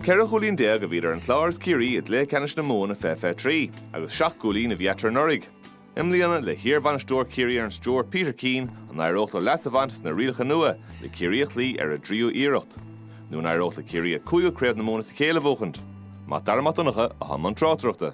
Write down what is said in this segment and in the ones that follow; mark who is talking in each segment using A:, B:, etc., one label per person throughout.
A: Ceithre chúilín déag a bhí idir an Clár is Ciarraí i gcluiche ceannais na Mumhan i fiche fiche trí agus seacht gcúilín a bhí eatarthu anuraidh. I mbliana, le hiarbhainisteoir Chiarraí ar an stiúir, Peter Keane, an éireodh leo leas a bhaint as na rialacha nua le Ciarraí a chloí ar a dtríú iarracht? Nó an éireodh le Ciarraí a cúigiú craobh na Mumhan as a chéile a bhuachaint? Mac Dara Mac Donncha, atá i mbun tráchtaireachta.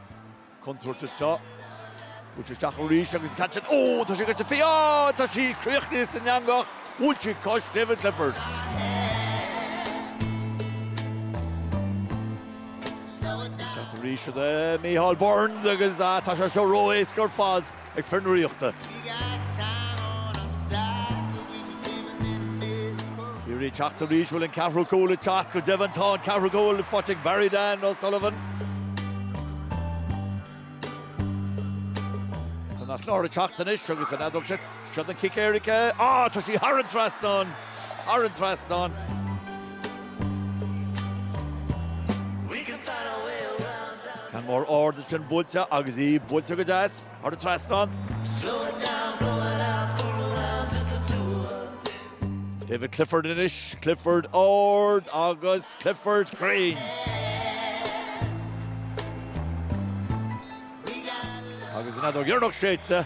A: contúirteach seo. Bhuail sé isteach arís agus cad sin? Ó! Tá sé curtha fé! Ó! Tá sí críochnaithe san eangach! Bhuail sí cos David Clifford. Teacht arís ag Micheál Burns agus tá sé seo ró-éasca ar fad. ag fir na Ríochta. Ciarraí ag teacht arís, bhfuil an ceathrú cúl ag teacht? Go deimhin tá an ceathrú cúl faighte ag Barry Dan O Sullivan. Tá an Clár ag teacht anois agus an fheadóg seo, seo an cic éirice. Á! Tá sí thar an trasnán! Thar an trasnán! Ceann mór ard ansin buailte agus í buailte go deas thar an trasnán. David Clifford anois, Clifford ard agus Clifford cruinn. Agus an fheadóg dheireanach séidte.